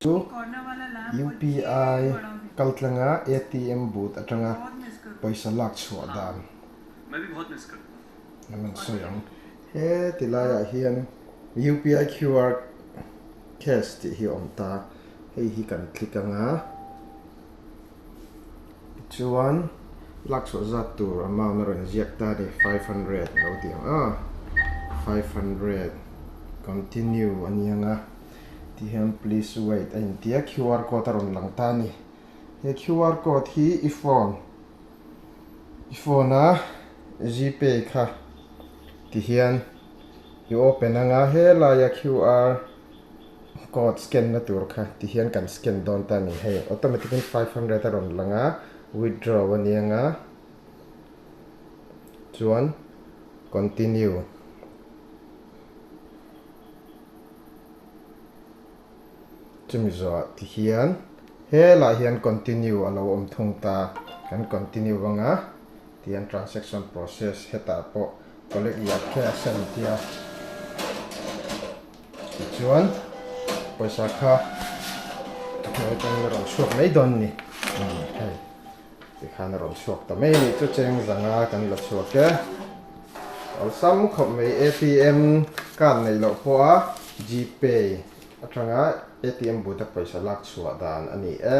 Chu UPI kaltlanga ATM booth atanga pawisa lak chhuah dan kan rawn sawi ang. Heti laiah hian UPI QR Cash tih hi a awm ta, hei hi kan click anga. Chuan lak chhuah zat tur amount a rawn ziak ta ani, five hundred a lo tih ang a, five hundred continue a ni ang a, tih hian please wait a inti a, QR code a rawn lang ta ani, he QR code hi i phone i phone a Gpay kha ti hian i open ang a, helaia QR Code scan na tur kha ti hian kan scan dawn ta ni hei automatic in five hundred a rawn lang a withdraw a ni anga chuan continue chumi zawh ti hian helai hian continue a lo awm thung ta kan continue vang a tihian transaction process hetah pawh collect liah khe a sen tia. Tichuan, pawisa kha ka hmu atang in a rawn chhuak mai dawn ni. Hei, tikhan a rawn chhuak ta mai anih chu cheng zanga kan la chhuak e. Awlsam khawp mai ATM card neih loh pawha GPay atanga ATM buta pawisa lak chhuah dan ani e.